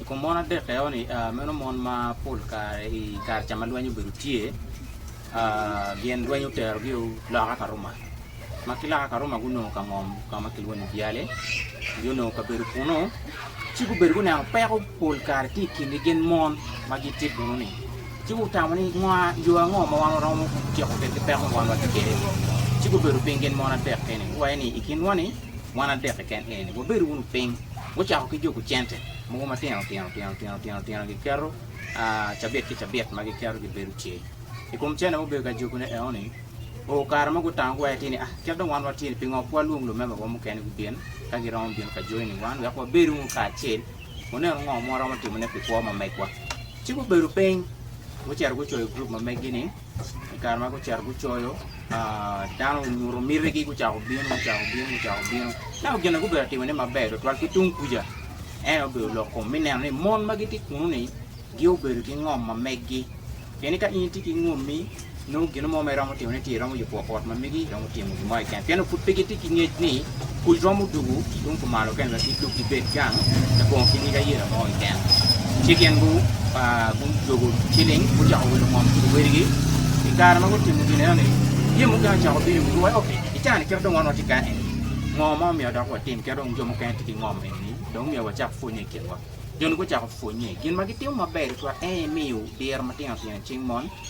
I kom mon adek eno-ni, meno mon ma pol kare i kare ca ma lweny obedo tye gin lweny oterogi loka ka Ruma ma ki loka ka Ruma gunongo ka ngom ka ma kilwongo ni byale nyo nongo kabedo kunu ci gubedo guneno peko pol kare tye i kingi gin mon ma gitye kunu-ni ci gutamo ni ngo yo ango ma wan waromo ciko kwedgi peko ma wan watye kwede-ni ci gubedo piny gin mon adek-ki-ni guwaco ni i kinwa-ni Mon adek keken eni, wubed wunu piny, wucako ki juku cente mogo matino tino tino tino tino tino giketo cabit ki cabit ma giketo gibedo ce i kom cene mubedo ka jukune enoni. Oo, kare mo gutango gwaye ti ni, Ah, kit dong wan watye ni, pingo ok walwong lumebawa mukene gubin ka giromo bino ka joi ni wan wek wabed wunu kacel, wunenu ngo ma waromo timone pi kwo ma megwa? Ci gubedo piny, gucito gucoyo gurup ma meggi ni, i kare ma gucito gucoyo, dano onyuto mitigi gucako bino gucako bino gucako bino. Ento gin ma gubedo ka timone maber tutwal ki tung kuca en aye obedo lok kom me neno ni mon ma gitye kunu-ni gubedo ki ngom ma meggi. Pien ni ka in itye ki ngommi nongo gin mo ma iromo timone tye iromo yubo ot ma megi. timo gin mo keken, pien onongo pud pe gitye ki ngec ni pwod romo dwogo tung kumalo kene wek gidog gibed gang me bongo ki nyig ayela mo keken. Ci gin gudwogo ciling gucako wilo ngom ki luwadigi. I kare ma gutimo gin enoni, jami mukene ocako bino i wigi wa, Ok, i kare-ni kit ma dong wan watye kany-ni, ngo ma omyero dok watim kit ma dong jo mukene tye ki ngom eni, dong myero wacak pwonnye i kinwa. Jo-ni gucako pwonnye. Gin ma gitimo maber tutwal en aye miyo diro matino tino i cing mon.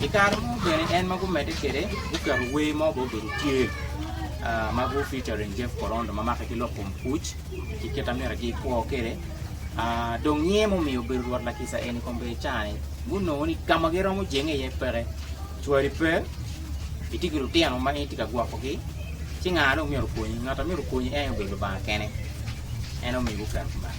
I kare mo bene en ma gumedde kwede guketo wer mo bene obedo tye ma gu featuring Jeff Korondo ma make ki lok kom kuc ki kit ma myero gikwo kwede. Dong nyiye ma omiyo obedo rwot lakisa eni kong bene cani gunongo ni ka ma giromo jenge iye peke, cwari pe, itye ki lutino ma in itye ka gwokogi ci nga dong myero okonyi? Ngat ma myero okonyi en aye obedo Lubanga kene en aye omiyo guketo kumeno.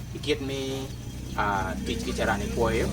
I kit me tic ki carani kwoyo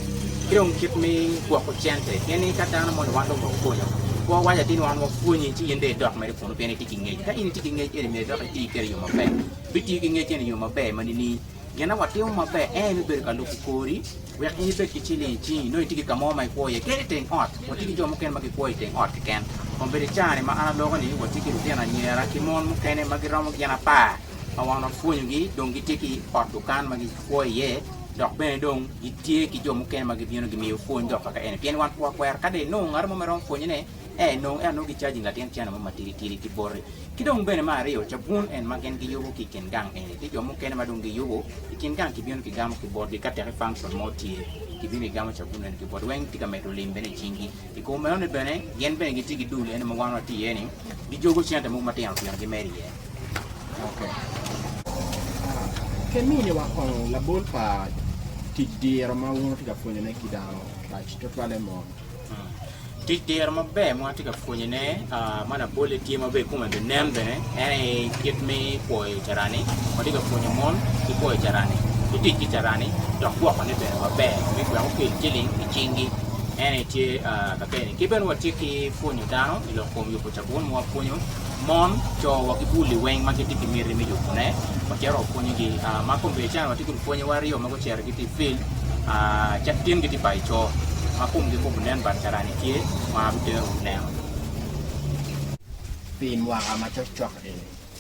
ki dong kit me gwoko cente pien ni ka dano moni wan dong wa pwonyo kwo waco atir ni wan wa pwonyi ci in dong idok mere kunu pien ni itye ki ngec ka in itye ki ngec eni myero idok iti kwede i yo maber bitiyo ki ngec eni i yo maber ma nining? Gin ma watimo maber en aye me bedo ka lubo kori wek in ibed ki ciling i cingi nongo itye ki ka mo ma ikwo iye kadi i teng ot watye ki jo mukene ma gikwo i teng ot keken kun bene i caa ni ma an aloko ni watye ki lutino anyira ki mon mukene ma giromo gin apar ma wan wapwonyogi dong gitye ki ot dukan ma gikwo iye dok bene dong gitye ki jo mukene ma gibino gimiyo pwony dok kaka en pien wan pe wakwero ka dong inongo ngat mo ma iromo pwonyone ee nongo ento nongo gicaji latin cene mo matidi tidi ki boti ki dong bene me aryo cabun en ma gin giyubo ki i kin gang eni tye jo mukene ma dong giyubo i kin gang kibino kigamo ki botgi ka tek i function mo tye kibino kigamo cabun meno ki botgi weng tye ka medo lim bene i cingi I kom meno-ni bene, gin bene gitye ki dul eno ma wan watye iye-ni, gijogo cente mogo matino tino gimedo iye. Keminiwa kong labol pa tic diro ma wun wutye ka pwonyone ki dano rac tutwalle mot? Tic diro maber ma watye ka pwonyone. Ma labolle tye ma bene kome binen bene en aye kit me kwoyo carani. Watye ka pwonyo mon ki kwoyo carani, ki tic ki carani dok gwokone bene maber me gweko ki i ciling i cinggi. En aye tye ka kene. Ki bene watye ki pwonyo dano i lok kom yubo cabun ma wapwonyo mon, co wa ki bul liweng ma gitye ki miti me yubone. Wacito wapwonyogi. Ma kombedicani watye kun pwonyewa aryo ma gucito gitye i field cakitin gitye bayo co ma komgi pe obinen but carani tye ma biterogi neno. Pi mwaka ma cokcok-ki,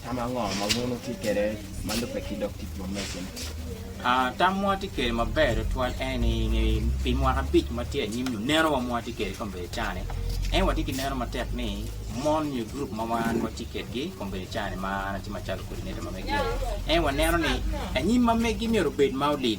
tam ango ma wun wutye kwede ma lubbe ki dog tic ma meicel-li? Tam ma watye kwede maber tutwal en ni pi mwaka abic ma tye anyim-mi, neno wa ma watye kwede kong obedo cani. En watye ki neno matek ni mon nyo gurup ma wan watye kwedgi kong bedo cani ma an atye macalo coordinator ma megi-ni. En waneno ni anyim ma megi myero obed ma olil.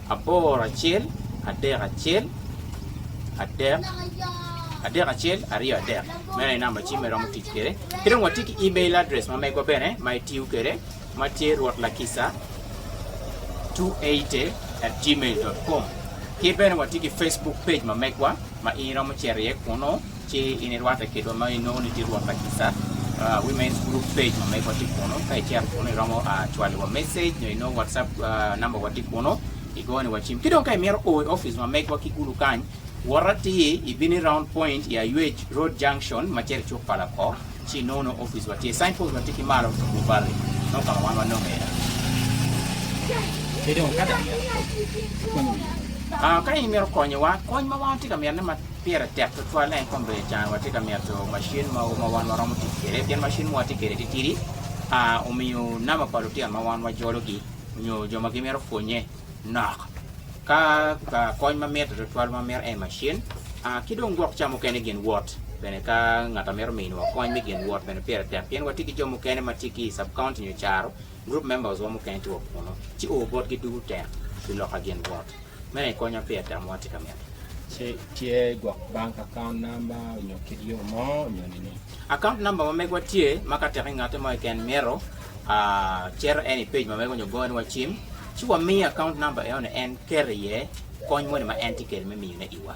Aboro acel adek acel adek adek acel aryo adek meno aye namba cim ma iromo tic kwede ki dong watye ki email address ma megwa bene ma itiyo kwede ma tye rwot lakisa 280 at gmail dot com ki bene watye ki Facebook page ma megwa ma in iromo cito iye kunu Ci in irwatte kitwa ma inongo ni tye Rwot pa kica. Women's Group page ma megwa tye kunu. Ka icito kunu iromo cwalowa message nyo inongo WhatsApp number wa tye kunu, igoyo ni wa cim. Ki dong ka imito o i office ma megwa ki gulu kany, wot atir ibino i Round Point i Aywec Road Junction ma cito i cuk pa Lako, ci inongo nongo office wa tye. Sign post wa tye ki malo tung Lubari. Nongo ka ma wan wanongo iye. Ki dong ka dano mito konyi, ikwanyo wiye. Ka in imito konyowa, kony ma wan watye ka mito ne Pire tek tutwal en kong bene can watye ka mito macin mogo ma wan waromo tic kwede pien macin ma watye kwede titidi omiyo namba pa lutino ma wan wajologi nyo jo ma gimito pwonye nok ka kony ma mitte tutwal ma mito en macin ki dong gwok ca mukene gin wot bene ka ngat a mito miniwa kony me gin wot bene pire tek pien watye ki jo mukene ma tye ki i sub county nyo caro Group members wa mukene tye wa kunu ci oo botgi dugu tek pi loka gin wot. Meno i konya pi atam watye ka mito. Ci tye gwok bank account number onyo kit yo mo onyo nining? Account number ma megwa tye ma ka tek i ngate mo keken mito a cito en i page ma mego onyo gongo wa cim ci wa miye account number eno ni en ket iye kony moni ma en tye kede me miyo ne i wa.